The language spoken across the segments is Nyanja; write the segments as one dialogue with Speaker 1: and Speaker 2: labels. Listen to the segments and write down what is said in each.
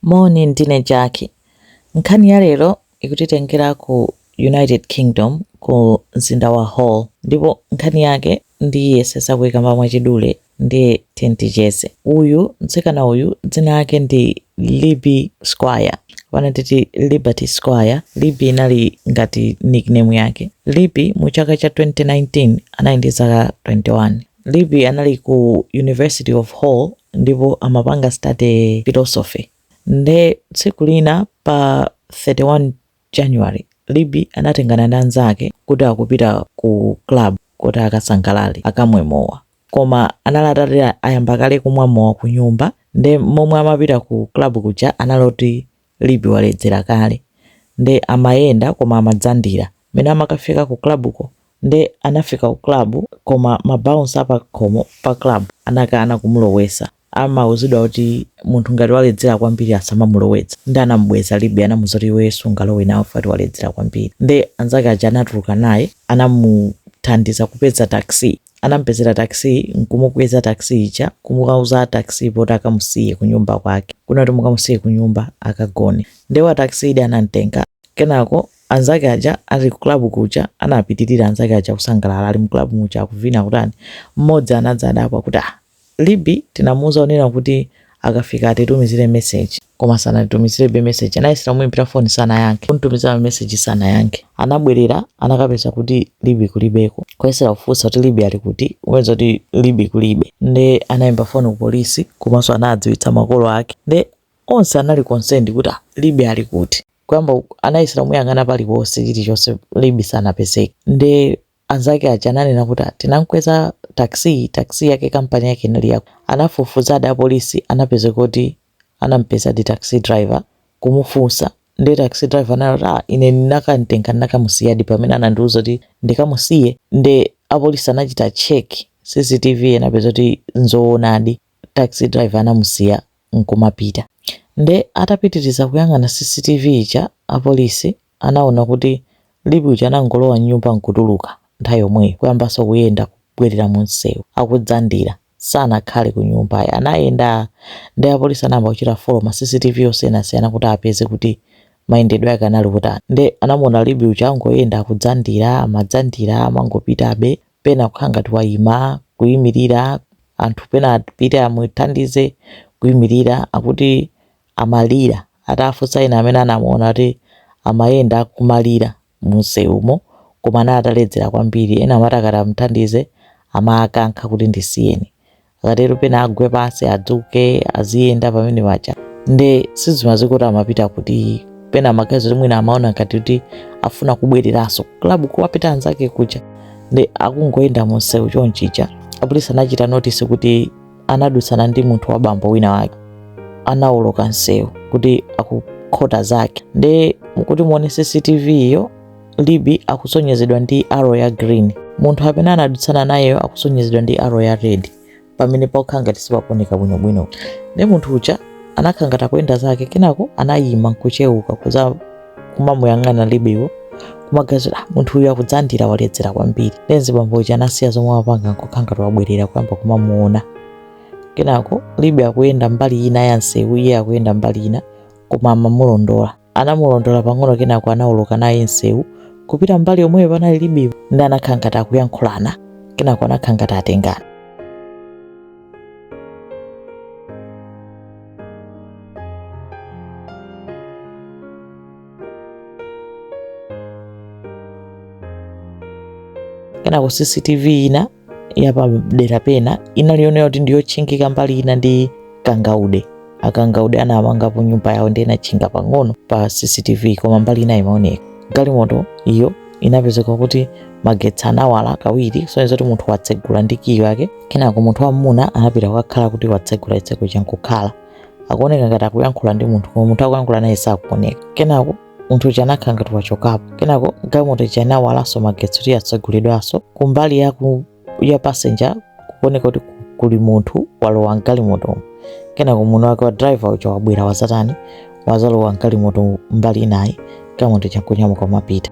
Speaker 1: Moni, ndine Jackie. Nkhani ya lero ikutitengera ku United Kingdom ku mzinda wa Hull ndipo nkhani yake ndiyesesa kuikamba mwachidule nde tiyeni ticheze. Uyu, mtsikana uyu dzina lake ndi Libby Squire kapena titi Liberty Squire. Libby inali ngati nickname yake. Libby mu chaka cha 2019 anali ndi zaka 21. Libby anali ku University of Hull ndipo amapanga study philosophy. Nde tsiku lina pa 31 January, Libby anatengana ndi anzake kuti akupita ku club kuti akasangalale, akamwe mowa. Koma anali atati ayamba kale kumwa mowa kunyumba nde momwe amapita ku club kuja anali oti Libby waledzera kale nde amayenda koma amadzandira mene amakafika ku club ko nde anafika ku club koma ma bouncer apa khomo pa club anakana kumulowesa amauzidwa kuti munthu ngati waledzera kwambiri asamamulowetse nde anamubweza Libby anamuuza kuti iweyo sungalowe nawo chifukwa choti waledzera kwambiri nde anzake aja anatuluka naye anamuthandiza kupeza taxi Anamupezera taxi nkumukweza taxi ija kumukauza a taxi poti akamusiye kunyumba kwake. Kunena kuti mukamusiye kunyumba akagone. Nde wa taxi uja anamtenga. Kenako anzake aja ali ku club kuja anapitirira anzake aja kusangalala ali mu club muja akuvina kutani. Mmodzi anadza adabwa kuti ah Libby tinamuuza kunena kuti akafika atitumizire message koma sanatitumizirebe message anayesera kumuimbira phone sanayankhe kumtumizira ma message sanayankhe anabwerera anakapeza kuti Libby kulibeko kuyesera kufunsa kuti Libby ali kuti kupeza kuti Libby kulibe nde anaimba phone ku police komanso anadziwitsa makolo ake nde onse anali concerned kuti ah, Libby ali kuti kuyamba anayesera kumuyang'ana paliponse chilichonse Libby sanapezeke nde anzake aja ananena kuti "Ah, tinamkweza taxi taxi yake kampani yake inali yakuti anafufuzadi apolisi anapeza kuti anampezadi taxi driver kumufunsa nde taxi driver anati "Ah, ine ndinakamtenga ndinakamusiyadi pamene anandiuza kuti ndikamusiye nde apolisi anachita check cctv anapeza kuti nzoonadi taxi driver anamusiya nkumapita nde atapitiriza kuyang'ana cctv ija apolisi Anaona kuti Libby uja anangolowa m'nyumba n'kutuluka nthawi yomweyo, kuyambanso kuyenda kubwerera mumsewu akudzandira. Sanakhale m'nyumba ayi. Anayenda, nde apolisi anayamba kuchita follow ma CCTV osiyanasiyana kuti apeze kuti mayendedwe ake anali otani. Nde anamuona Libby uja angoyenda akudzandira, amadzandira, amangopitabe, pena kukhala ngati waima, kuimirira, anthu pena apite amuthandize, kuimirira. Akuti amalira. Atafunsa ena amene anamuona kuti amayenda akumalira mumsewumo koma anali ataledzera kwambiri, ena amati akati amuthandize amawakankha kuti ndisiyeni. Akatero pena agwe pansi, adzuke, aziyenda pamene paja. Nde sizimadziwika kuti amapita kuti. Pena amaganiza kuti mwina amaona ngati kuti afuna kubwereranso ku club kuwapita anzake kuja. Nde akungoyenda mumsewu chonchija. Apolisi anachita notice kuti anadutsana ndi munthu wa bambo wina wake anawoloka msewu kuti akukhota zake nde kuti muone cctv iyo libby akusonyezedwa ndi arrow ya green munthu amene anadutsana nayeyo akusonyezedwa ndi arrow ya red pamene pakukhala ngati sipakuoneka bwinobwino nde munthu uja anakhala ngati akuyenda zake kenako anayima nkuchewuka kuza kumamuyang'ana libbywo kumaganiza ah, munthu uyu akudzandira waledzera kwambiri nde mzibambo uja anasiya zomwe apanga nkukhala ngati wabwerera kuyamba kumamuona kenako libby akuyenda mbali ina ya nsewu iye akuyenda mbali ina koma amamulondola anamulondola pang'ono kenako anawoloka naye nsewu kupita mbali yomweyo panali libbywo nde anakhala ngati akuyankhulana kenako anakhala ngati atengana kenako cctv ina yapadera pena inali yonena kuti ndiyotchingika mbali ina ndi kangaude akangaude anamangapo nyumba yawo nde inatchinga pang'ono pa cctv koma mbali ina imaoneka galimoto iyo inapezeka kuti magetsi anawala kawiri sonyeza kuti munthu watsegula ndi kiyi yake kenako munthu wam'muna anapita kukakhala kuti watsegula chitseko chija nkukhala akuoneka ngati akuyankhula ndi munthu koma munthu akuyankhula naye sakuoneka kenako munthu uja anakhala ngati wachokapo kenako galimoto ija inawalanso magetsi kuti yatsegulidwanso kumbali ya ku- ya passenger kukuoneka kuti ku- kuli munthu walowa mgalimotomo kenako munthu wake wa driver uja wabwera wazatani wazalowa mgalimoto mbali inayi galimoto ija nkunyamuka kumapita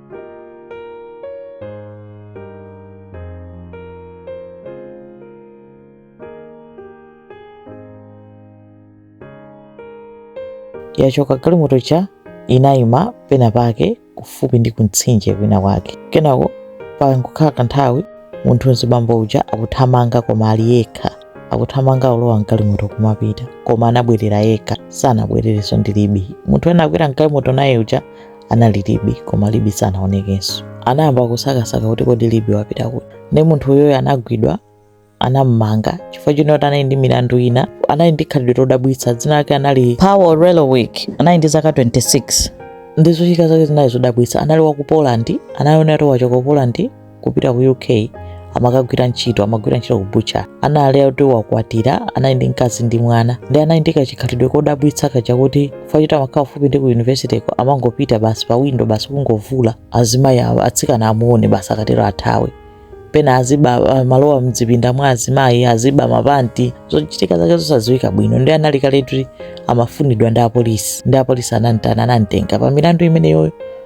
Speaker 1: yachoka galimoto ija inayima pena pake kufupi ndi kumtsinje kwina kwake kenako pangokhala kanthawi munthu mzibambo uja akuthamanga koma ali yekha akuthamanga kulowa mgalimoto kumapita koma anabwerera yekha sanabwererenso ndi libby munthu anakwera mgalimoto naye uja anali libby koma libby sanaonekenso anayamba kusakasaka kuti kodi libby wapita kuti nde munthu uyoyo anagwidwa anammanga chifukwa chonena kuti anali ndi milandu ina anali ndi khalidwe lodabwitsa dzina lake anali pawel relowicz anali ndi zaka 26 ndi zochitika zake zinali zodabwitsa anali wa ku poland anali onena kuti wachoka ku poland kupita ku uk amakagwira ntchito amagwira ntchito ku butcher anali oti wakwatira anali ndi mkazi ndi mwana ndi anali ndi kachikhalidwe kodabwitsa kachakuti fa choti amakhala kufupi ndi ku yunivesiteko amangopita basi pa windo basi kungovula azimayi awo atsikana amuone basi akatero athawe pena aziba amalowa mdzipinda mwa azimayi aziba mapanti zochitika zake zosadziwika bwino ndi anali kale oti amafunidwa ndi apolisi ndi apolisi anamtana anamtenga pa milandu imeneyoyo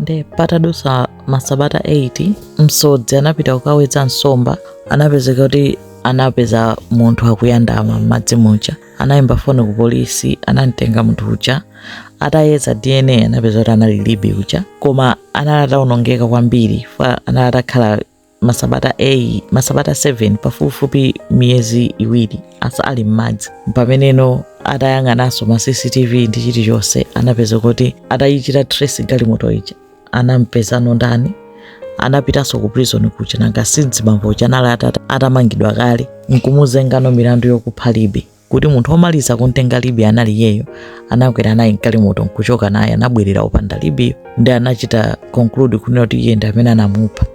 Speaker 1: nde patadutsa masabata 8 msodzi anapita kukawedza nsomba anapezeka kuti anapeza munthu akuyandama m'madzi muja anayimba foni ku polisi anamtenga munthu uja atayeza dna anapeza kuti anali libby uja koma anali atawonongeka kwambiri fa anali atakhala masabata 8 masabata 7 pafupifupi miyezi iwiri asa ali m'madzi pameneno atayang'ananso ma cctv ndi chilichonse anapeza kuti atayichita trace galimoto ija anampezano ndani anapitanso ku prison kuja nanga si mzibambo uja anali atamangidwa kale nkumuzengano milandu yokupha libby kuti munthu womaliza kumtenga Libbyyo anali iyeyo, anakwera naye mgalimoto nkuchoka naye, anabwerera opanda Libbyyo. Ndi anachita conclude kunena kuti iye ndi amene anamupha.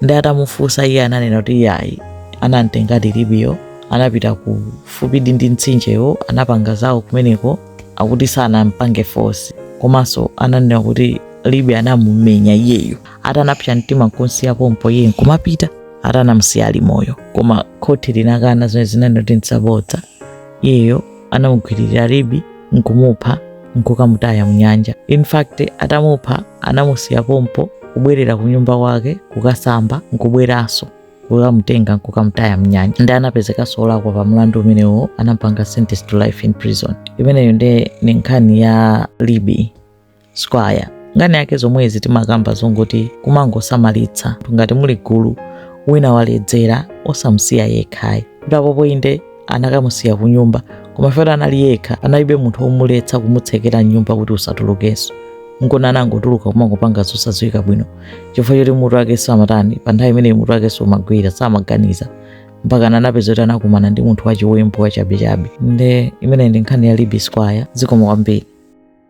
Speaker 1: Ndi atamufunsa iye ananena kuti iye ayi, anamtengadi Libbyyo, anapita kufupi ndi mtsinjewo, anapanga zawo kumeneko, akuti sanampange force. Komanso ananena kuti Libby anamumenya iyeyo, atanapsa mtima nkumsiya pompo iye nkumapita. ati anamsiya ali moyo koma khoti linakana zimene linanena kuti nzabodza iyeyo anamugwiririra libby nkumupha nkukamutaya mnyanja in fact atamupha anamusiya pompo kubwerera kunyumba kwake kukasamba nkubweranso kukamutenga nkukamutaya mnyanja ndi anapezekanso olakwa pa mlandu umenewo anampanga sentence to life in prison imeneyo ndi ni nkhani ya libby squire nkhani yake zomwezi timakamba zongoti kumangosamalitsa ngati muli gulu wina waledzera osamusiya yekhayi ndi apopo inde anakamusiya kunyumba koma fera anali yekha analibe munthu womuletsa kumutsekera nyumba kuti usatulukenso nkona anangotuluka kumangopanga zosadziwika bwino chifukwa choti mutu wake samatani pa nthawi imeneyo mutu wake sumagwira samaganiza mpaka anapezeka kuti anakumana ndi munthu wachiwembu wachabechabe nde imene ndi nkhani ya libby squire zikomo kwambiri